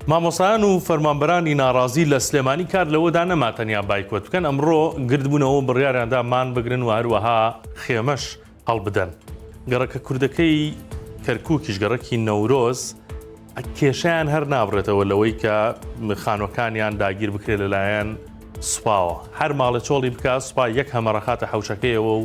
مامۆسایان و فەرمانبەرانی ناڕازی لە سلێمانی کار لەوەدا نەما تەنیا بایکۆت بکەن ئەمڕۆ گردبوونەوە بڕیاریاندا مان بگرن و هەروەها خێمەش هەڵبدەن گەڕەکە کوردەکەی کەرکووکیش گەڕەکی نەورۆز کێشیان هەر نابڕێتەوە لەوەی کە خانوەکانیان داگیر بکرێت لەلایەن سوپاوە هەر ماڵە چۆڵی بکە سوپا یەک هەمەڕەخاتە حوشەکەیەوە و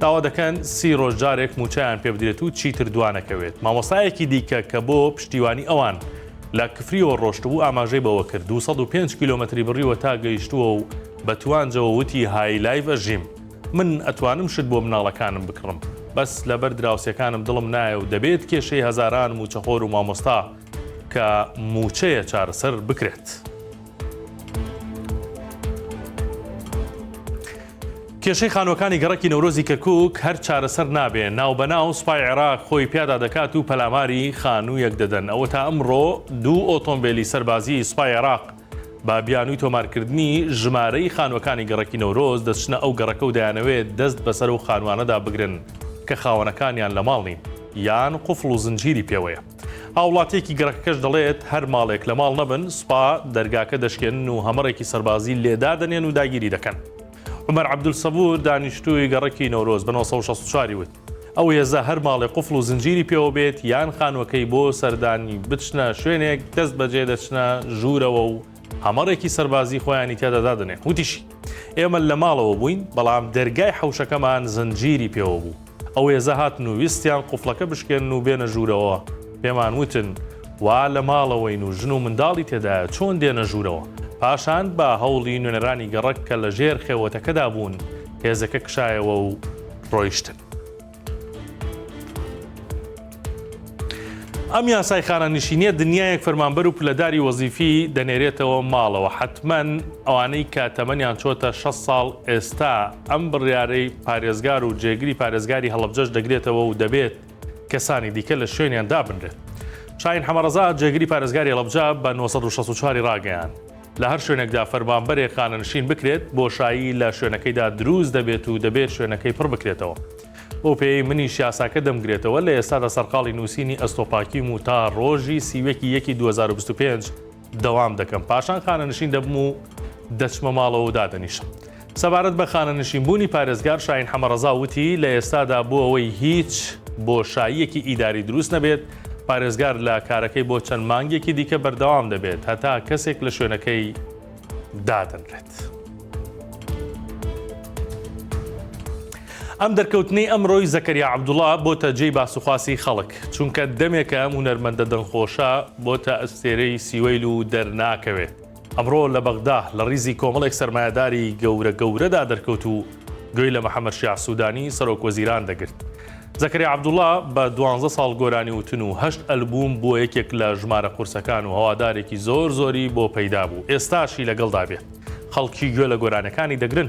داوا دەکەن سی ڕۆژ جارێک مووچەیان پێ بدرێت و چیتر دوانەکەوێت. مامۆستایەکی دیکە کە بۆ پشتیوانی ئەوان لە کفریەوە ڕۆشتبوو ئاماژەی بەوە کرد، دوو سەد و پێنج کیلۆمەتری بڕیوە تا گەیشتووە و بە توانجەوە وتی های لایڤ ئەژیم. من ئەتوانم شت بۆ مناڵەکانم بکڕم، بەس لەبەر دراوسێکانم دڵم نایە و دەبێت کێشەی هەزاران مووچەخۆر و مامۆستا کە مووچەیە چارەسەر بکرێت. کێشەی خانووەکانی گەڕەکی نەورۆزی کەرکک هەر چارەسەر نابێ ناوبەناو سوپای عێراق خۆی پیادا دەکات و پەلاماری خانوویەک دەدەن ئەوە تا ئەمڕۆ دوو ئۆتۆمبیلی سەربازی سوپای عێراق با بیانووی تۆمارکردنی ژمارەی خانووەکانی گەڕەکی نەورۆز دەچنە ئەو گەڕەکە و دەیانەوێت دەست بەسەر و خانوانەدا بگرن کە خاوەنەکانیان لە ماڵ نین یان قفڵ و زنجیری پێوەیە. هاوڵاتیەکی گەڕەکەکەش دەڵێت، هەر ماڵێک لە ماڵ نەبن، سوپا دەرگاکە دەشکێنن و هەمەڕێکی سەربازی لێ دادەنێن و داگیری دەکەن. عومەر عەبدول سەبور، دانیشتووی گەڕەکی نەورۆز بە نۆ سەد و شەست و چوار ی وت، ئەو هێزە هەر ماڵێ قوفڵ و زنجیری پێوە بێت یان خانووەکەی بۆ سەردانی بچنە شوێنێک، دەستبەجێ دەچنە ژوورەوە و هەمەڕێکی سەربازی خۆیانی تێدا دادەنێ وتیشی، ئێمە لە ماڵەوە بووین، بەڵام دەرگای حەوشەکەمان زنجیری پێوە بوو، ئەو هێزە هاتن و ویستیان قوفڵەکە بشکێنن و بێنە ژوورەوە، پێمان وتن وا لە ماڵەوەین و ژن و منداڵی تێدایە چۆن دێنە ژوورەوە، پاشان بە هەوڵی نوێنەرانی گەڕەک کە لە ژێر خێوەتەکەدا بوون هێزەکە کشایەوە و ڕۆیشتن. ئەم یاسای خانەنشینیە دنیایەک فەرمانبەر و پلەداری وەزیفی دەنێرێتەوە ماڵەوە حتممەن ئەوانەی کە تەمەنیان چۆتە 6 ساڵ ئێستا ئەم بڕیارەی پارێزگار و جێگری پارێزگاری هەڵبجەش دەگرێتەوە و دەبێت کەسانی دیکە لە شوێنیان دابنرێت شاین حەمەڕزا جێگری پارێزگاری هەڵبجە بە 1964 ڕاگەیان لە هەر شوێنێکدا فەرمانبەرێک خانەنشین بکرێت، بۆشایی لە شوێنەکەیدا دروست دەبێت و دەبێت شوێنەکەی پڕ بکرێتەوە. بەو پێیەی منیش یاساکە دەمگرێتەوە، لە ئێستادا سەرقاڵی نووسینی ئەستۆپاکیم و تا ڕۆژی سی و یەکی یەکی دوو هەزار و بیست و پێنج دەوام دەکەم، پاشان خانەنشین دەبم و دەچمە ماڵەوە و دادەنیشم. سەبارەت بە خانەنشینبوونی پارێزگار شاهین حەمەڕەزا وتی، لە ئێستادا بۆ ئەوەی هیچ بۆشاییەکی ئیداری دروست نەبێت، پارێزگار لە کارەکەی بۆ چەند مانگێکی دیکە بەردەوام دەبێت هەتا کەسێک لە شوێنەکەی دادەنرێت. ئەم دەرکەوتنەی ئەمڕۆی زەکەریا عەبدوڵا بۆتە جێی باسوخواسی خەڵک چونکە دەمێکە ئەم هونەرمەندە دەنگخۆشە بۆتە ئەستێرەی سیوەیل و دەرناکەوێت. ئەمڕۆ لە بەغدا لە ڕیزی کۆمەڵێک سەرمایەداری گەورە گەورەدا دەرکەوت و گوێی لە محەمەد شیاع سوودانی سەرۆک وەزیران دەگرت. زەکەریا عەبدوڵا بە دوانزە ساڵ گۆرانی وتن و هەشت ئەلبووم بووە یەکێک لە ژمارە قورسەکان و هەوادارێکی زۆر زۆری بۆ پەیدا بوو، ئێستاشی لەگەڵدا بێت خەڵکی گوێ لە گۆرانیەکانی دەگرن.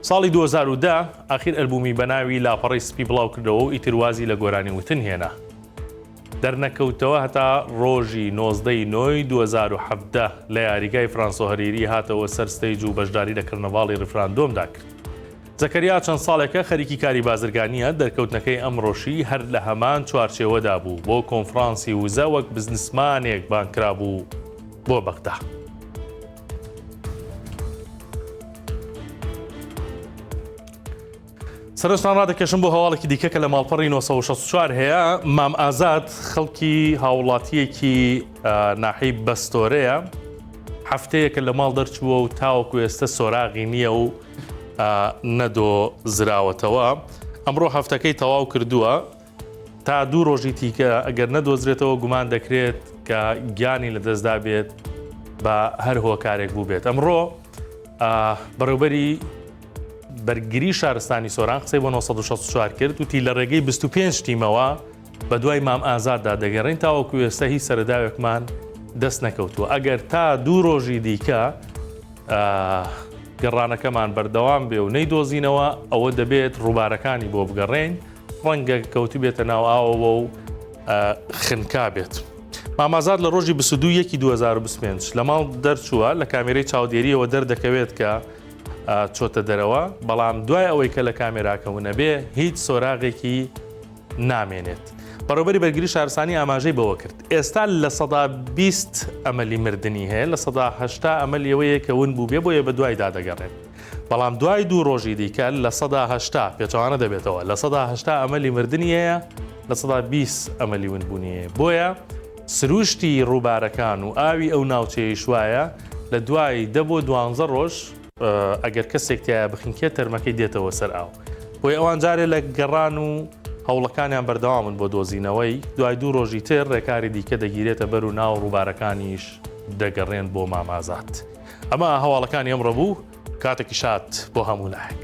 ساڵی دوو هەزار و دە ئاخیر ئەلبوومی بە ناوی لاپەڕەی سپی بڵاو کردەوە و ئیتر وازی لە گۆرانی وتن هێنا. دەرنەکەوتەوە هەتا ڕۆژی نۆزدە ی نۆی دوو هەزار و حەڤدە لە یاریگای فرانسۆ هەریری هاتەوە سەر ستەیج و بەشداری لە کەرنەڤاڵی ڕیفراندۆمدا کرد. زەکەریا چەند ساڵێکە خەریکی کاری بازرگانییە، دەرکەوتنەکەی ئەمڕۆشی هەر لە هەمان چوارچێوەدا بوو، بۆ کۆنفڕانسی وزە وەک بزنسمانێک بانگ کرابوو بۆ بەغدا. سەرنجتان ڕادەکێشم بۆ هەواڵێکی دیکە کە لە ماڵپەڕی 1964 هەیە مام ئازاد خەڵکی هاوڵاتیەکی ناحی بەستۆرەیە هەفتەیەکە لە ماڵ دەرچووە و تاوەکو ئێستا سۆراغی نییە و نەدۆ زراوەتەوە ئەمڕۆ هەفتەکەی تەواو کردووە تا دوو ڕۆژی تیکە ئەگەر نەدۆزرێتەوە گومان دەکرێت کە گیانی لە دەستدا بێت بە هەر هۆکارێک بوو بێت ئەمڕۆ بەڕێوبەری بەرگری شارستانی سۆران قسەی بۆ 1964 کرد وتی لە ڕێگەی 25 تیمەوە بە دوای مام ئازاددا دەگەڕین تاوەکو ئێستا هی سەرداوێکمان دەست نەکەوتووە ئەگەر تا دوو ڕۆژی دیکە گەڕانەکەمان بەردەوام بێ و نەی دۆزینەوە ئەوە دەبێت ڕووبارەکانی بۆ بگەڕێین ڕەنگە کەوتبێتە ناو ئاوەوە و خنکا بێت. مامازاد لە ڕۆژی 22 یەکی 2025 لە ماڵ دەرچووە لە کامێرەی چاودێریەوە دەردەکەوێت کە چۆتە دەرەوە بەڵام دوای ئەوەی کە لە کامێراکەون نەبێ هیچ سۆراغێکی نامێنێت. بەڕێوبەری بەرگری شارسانی ئاماژەی بەوە کرد ئێستا لە سەدا 20 ئەمەلی مردنی هەیە لە سەداهشتا ئەمەل یەوەیە کە ون بوو بێ بۆیە بە دوایدا دەگەڕێت. بەڵام دوای دوو ڕۆژی دیکە لە سەدا هەشتا پێچوانە دەبێتەوە لە سەدا هەشتا ئەمەلی مردنی هەیە لە سەدا بیست ئەمەلی ونبوونی هەیە بۆیە سروشتی ڕووبارەکان و ئاوی ئەو ناوچەیە شوایە لە دوای دە بۆ دوانزە ڕۆژ ئەگەر کەسێکتیایە بخینکێت تەرمەکەی دێتەوە سەر ئاو بۆی ئەوان جارێ لە گەڕان و هەوڵەکانیان بەردەوامن بۆ دۆزینەوەی دوای دوو ڕۆژی تر ڕێکاری دیکە دەگیرێتە بەر و ناو ڕووبارەکانیش دەگەڕێن بۆ مامازات. ئەمە هەواڵەکانی ئەمڕۆ بوو کاتێکی شاد بۆ هەموو لایەک.